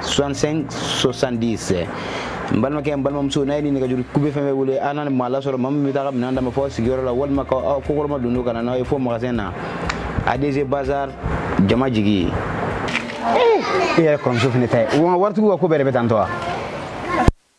65 70 n balimakɛ n balimamuso n'a ye nin nɛgɛjuru kube fɛn fɛn wele an na maa lasɔrɔ maa min bɛ taa ka minɛn d'a ma fo sigiyɔrɔ la walima ka aw kɔkɔrɔmadondon ka na n'aw ye fo magasin na adc bazar jama jigi e yɛrɛ kɔrɔmuso fana ta ye waritigiw ka ko bɛɛ de bɛ tan tɔ wa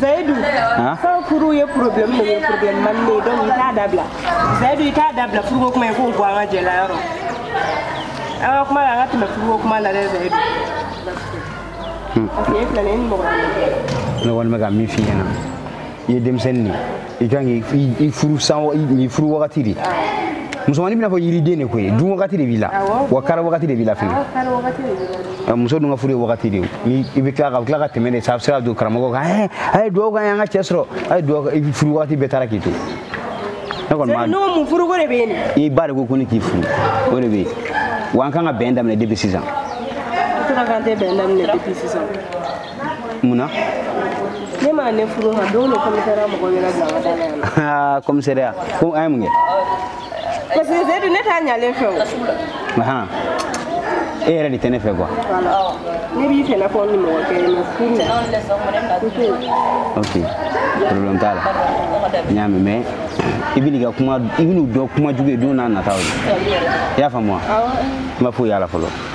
zayidu fɛn furu ye problème de ye problème mani de ye donc i t'a dabila zayidu i t'a dabila furuko kuma ye k'o bɔ an ka jɛ la yɔrɔ an ka kuma la an ka tɛmɛ furuko kuma la dɛ zayidu parce que e filɛ nin ye ni mɔgɔ ne kɔni bɛ ka min f'i ɲɛna i ye denmisɛnnin de ye i kan k'i furu san i furu wagati de musomannin bɛ n'a fɔ yiriden de ko ye dun wagati de b'i la wa kari wagati de b'i la fɛnɛ muso dun ka furu ye wagati de ye ni i bɛ tila ka tila ka tɛmɛ de sa a bɛ se ka don karamɔgɔ kan ɛ a ye dugawu k'an y'an ka cɛ sɔrɔ a ye dugawu i furu wagati bɛɛ taara k'i to ne kɔni b'a n'o mun furuko de bɛ yen i ba de ko ko ne k'i furu o de bɛ yen wa an kan ka bɛn daminɛ depuis sisan. Tora k'an tɛ bɛn daminɛ depuis sisan. mun na ne m'a ne furu ma don dɔ commissariat mɔgɔ yɛrɛ bila ka taa n'a ye aa commissariat ko an ye mun kɛ parce que zayidu ne t'a ɲalen fɛ o ahan e yɛrɛ de tɛ ne fɛ quoi ne b'i fɛ n'a fɔ ni mɔgɔ kɛ mais furu ok problème t'a la n y'a mɛn mais i bɛn'i ka kuma i bɛn'u dɔn kuma jugu ye don n'a nataw de i y'a faamu wa n ma foyi y'a la fɔlɔ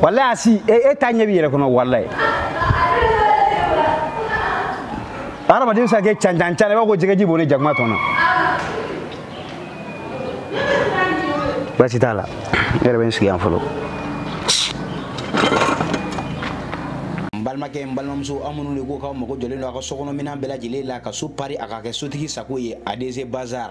walayi asi e ta ɲɛ b'i yɛrɛ kɔnɔ walayi hadamaden bɛ se ka kɛ cancancan i b'a fɔ ko jɛgɛji bɔnnen jakuma tɔn na baasi t'a la ne yɛrɛ bɛ n sigi yan fɔlɔ n balimakɛ n balimamuso aw minnu de ko k'aw mago jɔlen don a ka sokɔnɔ minɛn bɛɛ lajɛlen la ka so pari a ka kɛ sotigi sago ye adc bazar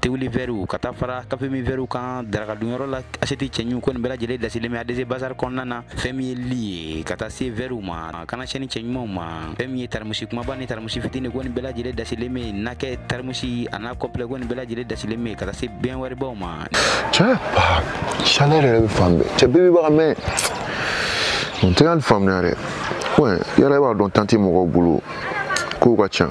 tewuli vɛriw ka taa fara kafemin vɛriw kan darakadunyɔrɔ la asiyɛti cɛɲu ko nin bɛɛ lajɛlen dasilen bɛ adc bazar kɔnɔna na fɛn min ye li ye ka taa se vɛriw ma kana sɛni cɛɲumanw ma fɛn min ye tarimusi kumaba ni tarimusi fitini ko nin bɛɛ lajɛlen dasilen bɛ yen nakɛ tarimusi a n'a complet ko nin bɛɛ lajɛlen dasilen bɛ yen ka taa se bɛn wɛribaw ma cɛ chaleur yɛrɛ bɛ fan bɛɛ cɛ bɛɛ bɛ baga mais n tɛ ka nin faamuya dɛ yɛrɛ b'a dɔn tanti mɔgɔw bolo kow ka ca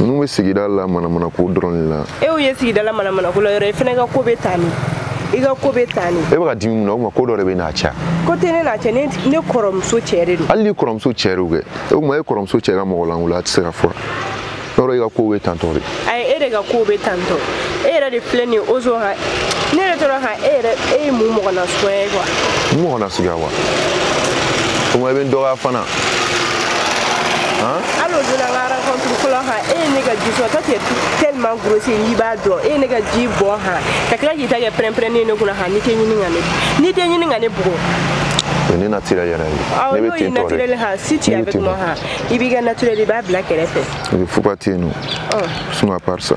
ninnu bɛ sigida la manamanako dɔrɔn de la e y'u ye sigida la manamanako la yɔrɔ i fana ka ko bɛ taa min i ka ko bɛ taa nin e bɛ ka dimi mun na o tuma ko dɔ de b'e n'a cɛ wa ko tɛ ne n'a cɛ ne ne kɔrɔmuso cɛ de don hali n'i kɔrɔmuso cɛ de kɛ o tuma e kɔrɔmuso cɛ ka mɔgɔlankolonya tɛ se ka fɔ yɔrɔ i ka ko bɛ tantɔ de ayi e de ka ko bɛ tantɔ e yɛrɛ de filɛ nin ye ozo ka ne yɛrɛ tora ka e yɛrɛ e ye mun mɔgɔ nasuguya ye quoi mun mɔgɔ nasuguya wa o tuma i bɛ n dɔgɔya fana Hein? Hali o don na an ka rencontre fɔlɔ han e ye ne ka ji sɔrɔ toi tu es tellement grossier n'i b'a dɔn e ye ne ka ji bɔn han ka tila k'i ta kɛ pɛrɛnpɛrɛnni ye ne kunna han n'i tɛ ɲini ka ne n'i tɛ ɲini ka ne bugɔ ne naturel yɛrɛ ye ne bɛ ten tɔ de naturel han si tu es avec moi han i b'i ka naturel i b'a bila kɛrɛfɛ i bɛ fuga ten nɔ sinon à part ça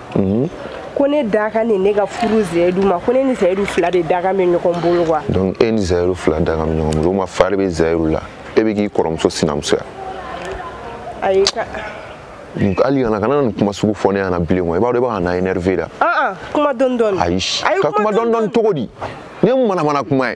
mhm. ko ne dakan de ne ka furu zayidu ma ko ne ni zayidu fila de dakan bɛ ɲɔgɔn bolo quoi donc e ni zayidu fila dakan bɛ ɲɔgɔn bolo o ma fari bɛ zayidu la e bɛ k'i kɔrɔmuso sinamusoya ayi ka donc hali kana kana nin kuma sugu fɔ ne ɲɛna bilen kɔ i b'a dɔn i bɛ ka n énervé la kuma dɔɔni dɔɔni ayi ka kuma dɔɔni dɔɔni cogo di nin ye manamana kuma ye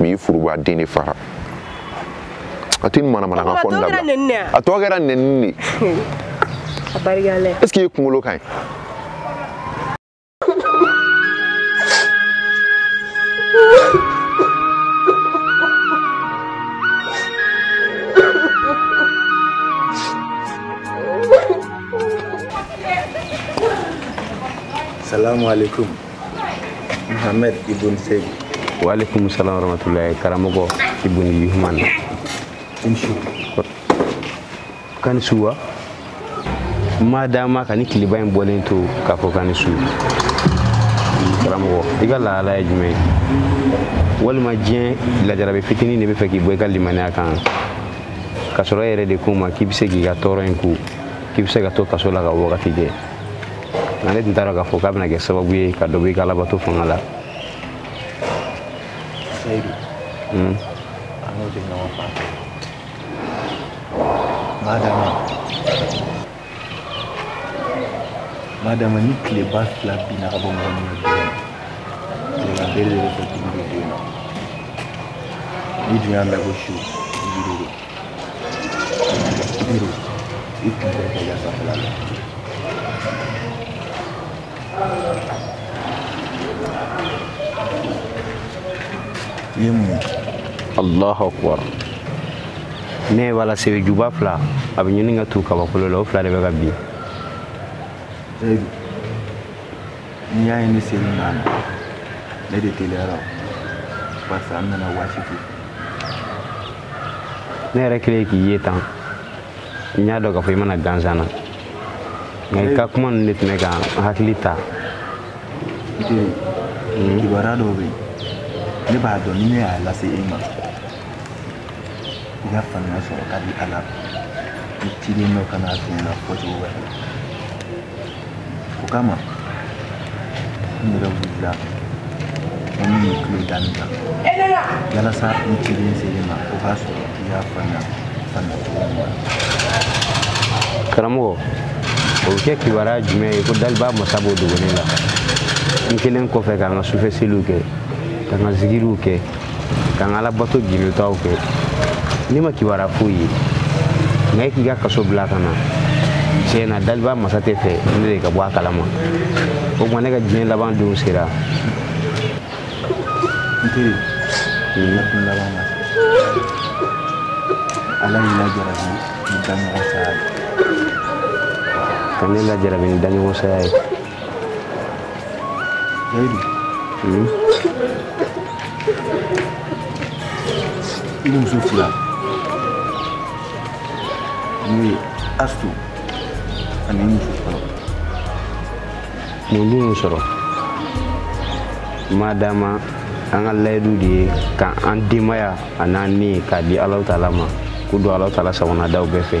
mais i furuba den de fara a tɛ nin manamanakan fɔ nin dabila a tɔ kɛra nɛnini de est ce que i kunkolo ka ɲi Salam alaikum. Muhammad ibn Seyidu. Wa alaikum salam wa rahmatullahi karamɔgɔ ibn Yuhman. I ni su. K'a ni su wa? Ma dama ka nin tileba in bɔlen to k'a fɔ k'a ni su. Karamɔgɔ, i ka lahala ye jumɛn ye? Walima diɲɛ lajarabi fitinin de bɛ fɛ k'i bɔ i ka limaniya kan. Ka sɔrɔ e yɛrɛ de ko n ma k'i bɛ se k'i ka tɔɔrɔ in ku, k'i bɛ se ka to kaso la ka wagati kɛ. nka ne tun t'a dɔn k'a fɔ k'a bɛna kɛ sababu ye ka dɔ bɔ i ka alabato fanga la seyidu hmm? an n'o tɛ ɲɔgɔn fan na ma dama ni tileba fila binna ka bɔ mɔgɔ min na tilegan bere de bɛ fɔ dumuni bɛ yen nɔ n'i dun y'a mɛn ko su i ye mun allahu akbar ne ye wala sebe juba fila a bɛ ɲini ka tu kabakolo la o fila de bɛ ka bin n'i y'a ye ne ser'i ma ne de teliyara barisa n nana waati fo ne yɛrɛ kɛlen k'i ye tan n y'a dɔn k'a fɔ i ma na gansan na nka i ka kuma ninnu de tun bɛ ka n hakili ta kibaruya dɔw bɛ yen ne b'a dɔn ni ne y'a lase e ma i ka faamuya sɔrɔ ka di a la ni ciden dɔ ka na a f'i ɲɛna fɔcogo wɛrɛ la o kama n yɛrɛ wulila ko n b'i tulo da nin kan yalasa ni ciden selen ma o k'a sɔrɔ i y'a faamuya faamuya cogo ɲuman karamɔgɔ o bɛ kɛ kibaruya jumɛn ye ko daliba masa b'o dogo ne la n kɛlen kɔfɛ ka n ka sufɛ seliw kɛ ka n ka zikiriw kɛ ka n ka alabato gindotaw kɛ ne ma kibaruya foyi ye nka e k'i ka kaso bila ka na tiɲɛ na daliba masa t'a fɛ ne de ka bɔ a kalama o tuma ne ka diɲɛ laban don sera n teri ne kun laban na ala y'i lajarabi ni daɲɔgɔn saya ye ka ne lajarabi ni daɲɔgɔn saya ye i ni muso fila n'o ye astu ani muso fɔlɔ mun dun y'o sɔrɔ madama an ka layidu de ye ka an denbaya an'an ni k'a di alahu taala ma k'u don alahu taala sagonadaw bɛɛ fɛ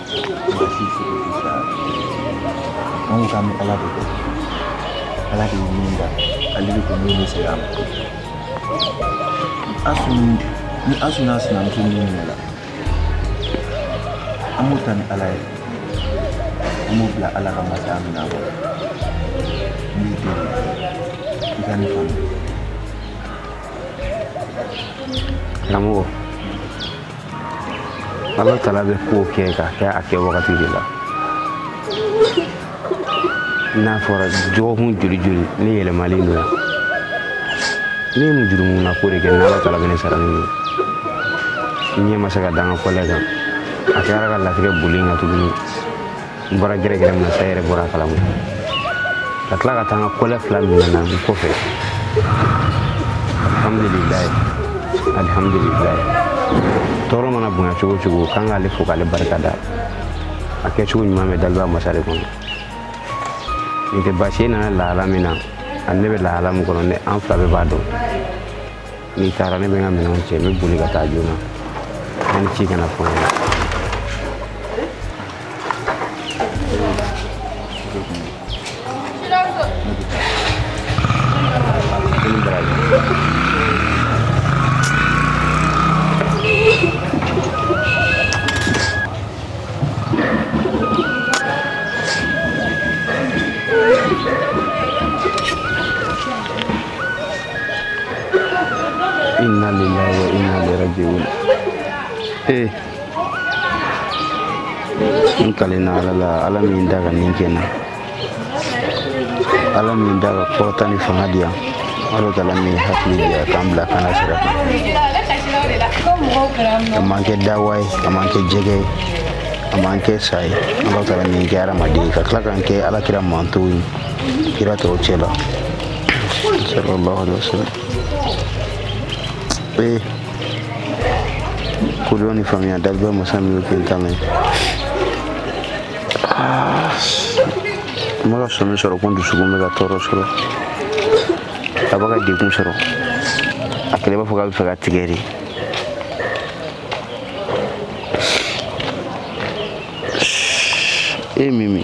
Basi sigi sisan anw ka bɛ ala de kɛ ala de ye min da ale de ko min bɛ segin a ma ani asu n'a sinamuso min minɛ la an b'o ta ni ala ye an b'o bila ala ka masaya min na kɔrɔ n b'i deli i ka ne faamu karamɔgɔ ala tala bɛ ko kɛ k'a kɛ a kɛ wagati de la n'a fɔra dɔgɔkun joli joli ne yɛlɛmalen don yan ne ye mun jurumu na ko de kɛ n'ala tala bɛ ne sara ni n ɲɛ ma se ka da n ka kɔlɛ kan a kɛra ka latigɛ boli n kan tuguni n bɔra gɛrɛgɛrɛ min na sa yɛrɛ bɔra a kalama ka tila ka taa n ka kɔlɛ fila minɛ na n kɔfɛ alhamdulilayi alhamdulilayi tɔɔrɔ mana bonya cogo o cogo k'an k'ale fo k'ale barika da a kɛcogo ɲuman bɛ daliba masa de kɔnɔ nin tɛ baasi ye nana lahala min na ani ne bɛ lahala min kɔnɔ ne an fila bɛɛ b'a dɔn n'i taara ne bɛ n ka minɛnw cɛ n bɛ boli ka taa joona ne ni ci kana fɔ n ɲɛna inna lillahi wa inna ilaihi raji'un eh n kalenna ala la ala min da ka ni kɛ an na ala min da ka kɔrɔta ni fanga di an ala taala min hakili di an k'an bila kana sira kan a m'an kɛ dawa ye a m'an kɛ jɛgɛ ye a m'an kɛ sa ye ala taala min kɛ hadamaden ye ka tila k'an kɛ ala kira mantɔn ye kira tɔw cɛ la sallallahu alaihi wasallam eh ko doni famia dalba musami ko tame ah mara sɔmi sɔrɔ ko n dusukun bɛ ka tɔɔrɔ sɔrɔ a bɛ ka degun sɔrɔ a kɛlen b'a fɔ k'a bɛ fɛ ka tigɛ de e mimi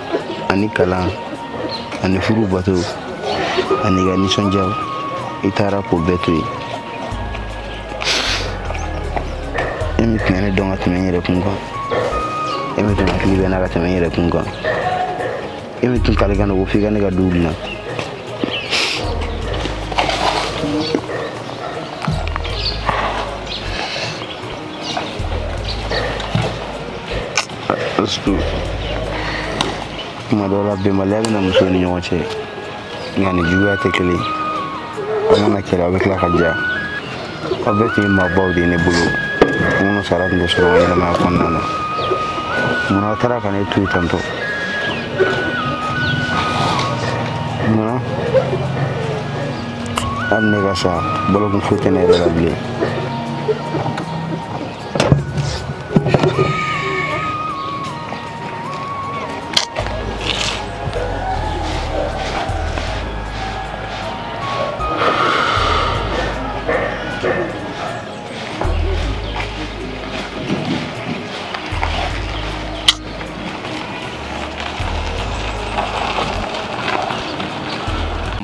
ani kalan ani furu bato an'i ka nisɔndiyaw i taara k'o bɛɛ to yen e min tun bɛ ne dɔn ka tɛmɛ n yɛrɛ kun kan e min tun hakili bɛ n na ka tɛmɛ n yɛrɛ kun kan e min tun kalikan don ko f'i ka ne ka du dilan surtout tuma dɔw la bɛnbaliya bɛ na muso ni ɲɔgɔn cɛ nka a ni juguya tɛ kelen aw mana kɛlɛ aw bɛ tila ka diya aw bɛɛ tun ye maabaw de ye ne bolo minnu sara tun tɛ sɔrɔ n ɲɛnamaya kɔnɔna na munna aw taara ka ne to yen tantɔ munna hali ne ka sa balokun foyi tɛ ne yɛrɛ la bilen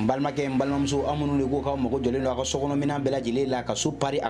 Balimakɛ balimamuso amadu de ko k'a mago jɔlen don a ka sokɔnɔminɛn bɛɛ lajɛlen la ka so pa a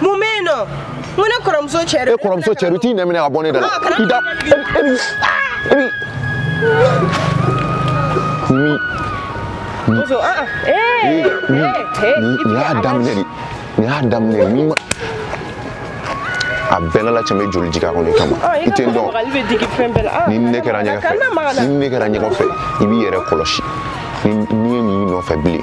mun bɛ yen nɔ n ko ne kɔrɔmuso cɛ de e kɔrɔmuso cɛ de t'i nɛn minɛ ka bɔ ne da la i da e bi e bi mi mi mi nin y'a daminɛ de nin y'a daminɛ de n'i ma a bɛɛ lala cɛmɛ joli jigin a kɔnɔ i kama i tɛ n dɔn ni ne kɛra ɲɛgɛn fɛ ni ne kɛra ɲɛgɛn fɛ i b'i yɛrɛ kɔlɔsi n'i ye nin nɔfɛ bilen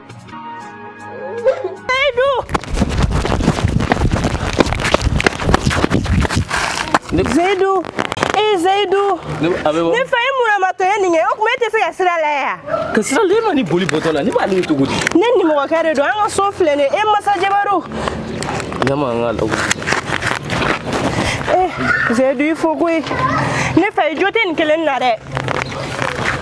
Zaidu ee Zaidu ne fa ye munna moto ye nin kɛ o tuma e tɛ se ka sira lajɛ ka sira lajɛ ma ni boli bɔtɔ la ne b'ale ye cogo di ne nimɔgɔkɛ de don an ka so filɛ nin ye masa jabaru ɲama an k'a lawu ee Zaidu i fo koyi ne fa ye jo tɛ nin kelen na dɛ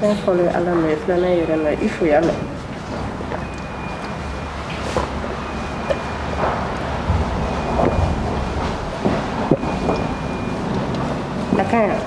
N'a fɔra ala mɛ filanan yɛrɛ na i fo y'a mɛn a ka yan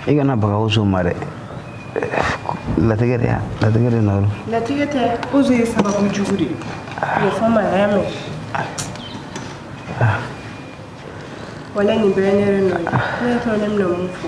i kana baga Uzo ma dɛ latigɛ de yan latigɛ de nɔ don latigɛ tɛ Uzo ye sababu jugu de ye o fɔ ma a y'a mɛn wala nin bɛɛ ye ne de nɔ ye a tɔ ne bɛna mun fɔ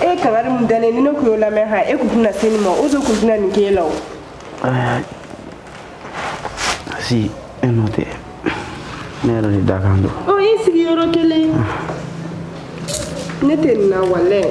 e kangari mun dalen ni ne kun y'o lamɛn ha e kun tɛna se nin ma Uzo kun tɛna nin k'e la o si e nɔ tɛ ne yɛrɛ de dakan don ɔ i sigi yɔrɔ kelen ne tɛ nin na walayi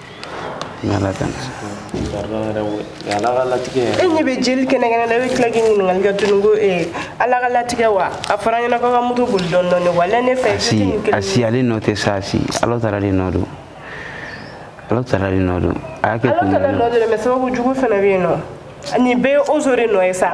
N'ala tɛ ala ka latigɛ e ɲɛ bɛ jeli kɛnɛkɛnɛ na i bɛ tila ka ɲininkali kɛ tuguni ko ee ala ka latigɛ wa a fɔra ɲɛna ko a ka moto boli dɔɔni dɔɔni walayi ne fa Asi Asi ale nɔ tɛ sa si ala taala de nɔ don ala taala de nɔ don a y'a kɛ kun ala taala nɔ don dɛ mɛ sababu jugu fana bɛ yen nɔ nin bɛɛ ye Uzo de nɔ ye sa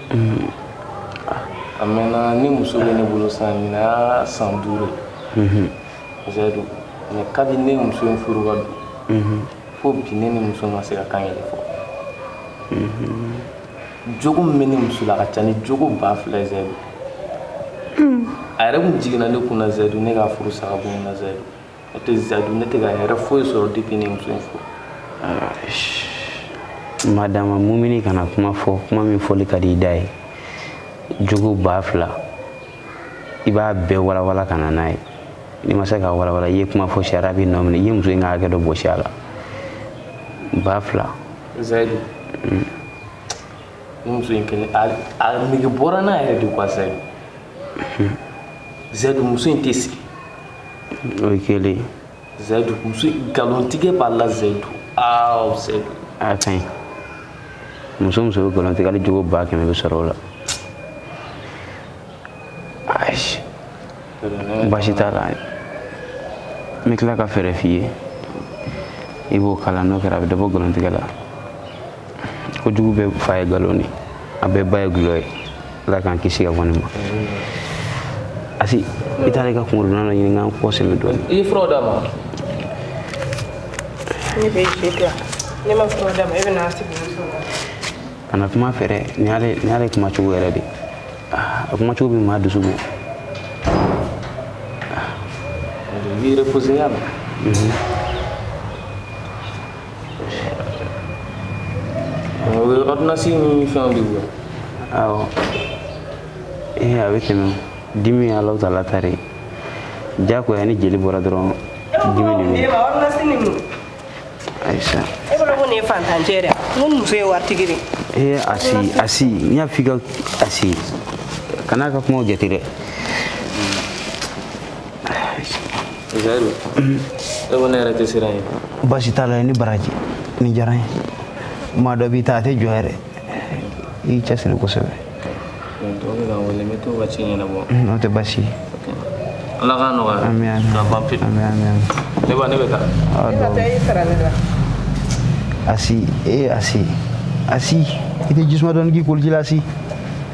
a mɛnna ne muso bɛ ne bolo san nin y'a san duuru zayidu mɛ kabi ne muso in furu ka don fo bi ne ni muso ma se ka kan kelen fɔ jogo min bɛ ne muso la ka ca ni jogo ba fila ye zayidu a yɛrɛ kun jiginna ne kun na zayidu ne ka furu sa ka bɔ n na zayidu o tɛ zayidu ne tɛ ka hɛrɛ foyi sɔrɔ depuis ne muso in furu madama mumini kana kuma fɔ kuma min fɔli ka di i da ye jogo ba fila i b'a bɛɛ walawala ka na n'a ye n'i ma se ka walawala i ye kuma fɔ sariya b'i nɔ minɛ i ye muso in ka hakɛ dɔ bɔsi a la ba fila zayidu mm. ni muso in kelen a nege bɔra n na yɛrɛ de quoi zayidu zayidu muso in tɛ sigi o ye kelen ye zayidu muso nkalontigɛ b'a la zayidu aa zayidu a ka ɲi muso muso bɛ nkalon tigɛ hali jogo ba kɛmɛ bɛ sɔrɔ o la ayi baasi t'a la n bɛ tila ka fɛɛrɛ f'i ye i b'o kalan n'o kɛra a bɛ dɔ bɔ nkalontigɛ la kojugu bɛɛ fa ye nkalon ye a bɛɛ ba ye dɔlɔ ye ala k'an kisi ka bɔ nin ma asi i taara i ka kunkolodonna dɔ ɲini k'an kɔ sɛmɛ dɔɔni i ye furaw d'a ma ne bɛ je dɔ ne ma furaw d'a ma e bɛ n'a sigi kana kuma fɛ dɛ nin y'ale kuma cogo yɛrɛ de ah, a kuma cogo bɛ maa dusu bɔ i reposer y'a la ordonnance ni fɛnw de bɛ bɔ awɔ ee a bɛ tɛmɛ dimi ye alahu taala ta de ye diyagoya ni jeli bɔra dɔrɔn dimi de bɛ ayisa e bolo ko ne ye faantancɛ yɛrɛ n ko muso ye waritigi de ee asi asi n y'a f'i ka asi kan'a ka kumaw jate dɛ Zayidu e ko ne yɛrɛ tɛ siran ye baasi t'a la ni baraji ni diyara n ye maa dɔ b'i ta a tɛ jɔ yɛrɛ i cɛsiri kosɛbɛ dɔw bɛ ka wele n bɛ to ka ci ɲɛnabɔ n'o tɛ baasi ye ala k'a nɔgɔya ami ami ka ban pewu ami ami ami ne ba ne bɛ taa aw dɔw asi e asi asi i tɛ jisuma dɔɔni k'i koliji la asi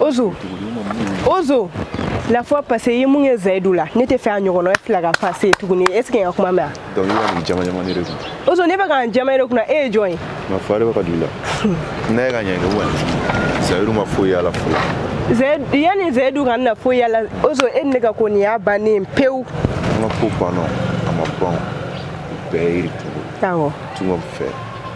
ozo ozo la fois passée i ye mun kɛ zayidu la ne t'a fɛ a ɲɔgɔnna e fila ka passer tuguni est ce que n ka kuma mɛnna donc i bɛ ka nin jaman jaman ne de kun ozo ne bɛ ka n jaman e de kunna e ye jɔn ye ma fa de bɛ ka don i la n'a ye ka ɲɛ ne wa zayidu ma foyi y'a la fɔlɔ yanni zayidu kana foyi y'a la ozo e ni ne ka ko nin y'a bannen pewu an ka ko banna a ma ban bɛɛ ye yiri tugu awɔ tunga fɛ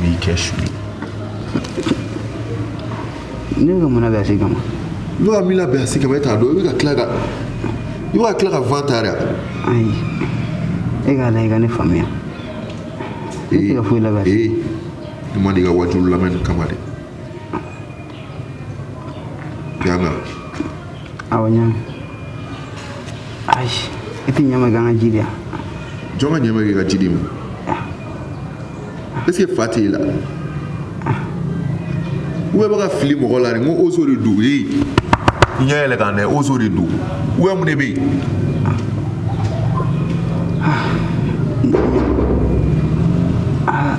B'i kɛ su ye. Ne bɛ ka mun labɛn Asi kama? Ne bɛ ka min labɛn Asi kama e t'a dɔn i bɛ ka tila ka i bɛ ka tila k'a fan ta de wa? Ayi e k'a lajɛ i ka ne faamuya. Ne tɛ ka foyi labɛn Asi. Ee ne ma deli ka wajuliw lamɛn nin kama dɛ. Yan wa. Awɔ yan. Ayi, i t'i ɲamɔgɔ ka ji di ya. Jɔn ka ɲamɔgɔ ka ji di mun. Est-ce que fa t'i la? O bɛ ka fili mɔgɔ la n ko ozo de don ee n y'a yɛlɛkan dɛ ozo de don ou est-ce mun de bɛ yen. Ah.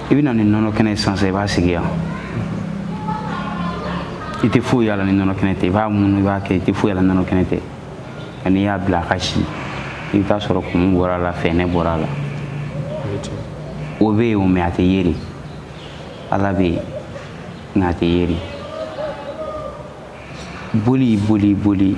i bɛ na ni nɔnɔ kɛnɛ ye sisan i b'a sigi yan i tɛ foyi y'a la ni nɔnɔ kɛnɛ tɛ i b'a munu i b'a kɛ i tɛ foyi y'a la ni nɔnɔ kɛnɛ tɛ nka n'i y'a bila a ka si i bɛ taa sɔrɔ kumu bɔra a la fɛɛnɛ bɔra a la o bɛ yen o mɛ a tɛ ye de ala bɛ yen nka a tɛ ye de boli boli boli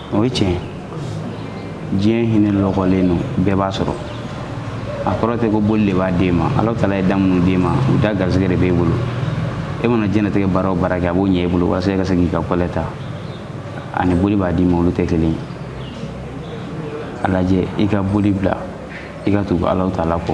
o ye tiɲɛ diɲɛ hinɛ lɔgɔlen don bɛɛ b'a sɔrɔ a kɔrɔ tɛ ko boli de b'a d'e ma ala tala ye da minnu d'e ma u da garisɛgɛ de b'e bolo e mana diɲɛnatigɛ baara o baara kɛ a b'o ɲɛ i bolo walasa i ka se k'i ka kɔlɛ ta ani boli b'a d'i ma olu tɛ kelen ye a lajɛ i ka boli bila i ka tugu ala tala kɔ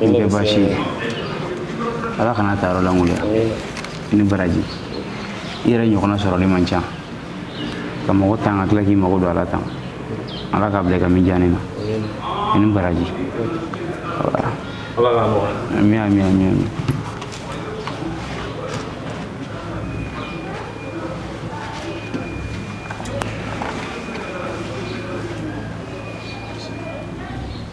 a tɛ baasi ye ala kan'a ta yɔrɔ lankolonya i ni baraji i yɛrɛ ɲɔgɔnna sɔrɔli man ca ka mɔgɔ tan ka tila k'i mago don a la tan ala k'a bila i ka mijaani na i ni baraji ami ami ami ami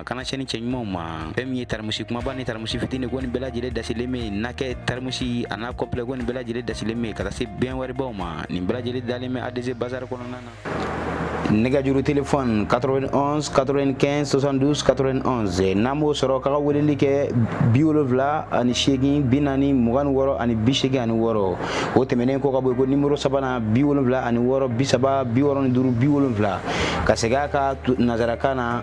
a kana cɛni cɛ ɲumanw ma fɛn min ye taramusi kumaba ni taramusi fitini ko nin bɛɛ lajɛlen dasilen bɛ yen na kɛ taramusi a n'a kɔpilɛ ko nin bɛɛ lajɛlen dasilen bɛ yen ka taa se bɛnwaribaw ma nin bɛɛ lajɛlen dalen bɛ adc bazar kɔnɔna na nɛgɛjuru telefɔni 91 95 72 91 n'a m'o sɔrɔ k'a ka weleli kɛ bi wolonwula ani seegin bi naani mugan ni wɔɔrɔ ani bi seegin ani wɔɔrɔ o tɛmɛnen kɔ ka bɔ yen ko nimoro sabanan bi wolonwula ani wɔɔrɔ bi saba bi wɔɔrɔ ni duuru bi wolonwula ka segin a kan nanzarakan na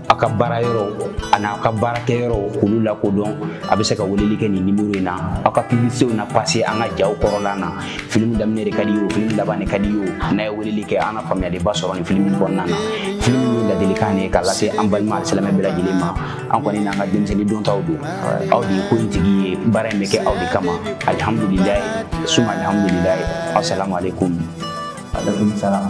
a ka baara yɔrɔ ani aw ka baarakɛ yɔrɔ k'olu lakodɔn a bɛ se ka weleli kɛ nin nimoro in na aw ka publicitew na pase an ka jaw kɔrɔla na filimu daminɛ de ka di ye o filimu laban de ka di ye o n'a ye weleli kɛ an na faamuyaliba sɔrɔ nin filimu kɔnɔna na filimu ye ladilikan de ye k'a lase an balima alisilamɛ bɛɛ lajɛlen ma an kɔni n'an ka denmisɛnnin dɔntaw don aw de ye ko in tigi ye baara in bɛ kɛ aw de kama alihamudulilayi suma alihamudulilayi asalamu aleykum aleykum salam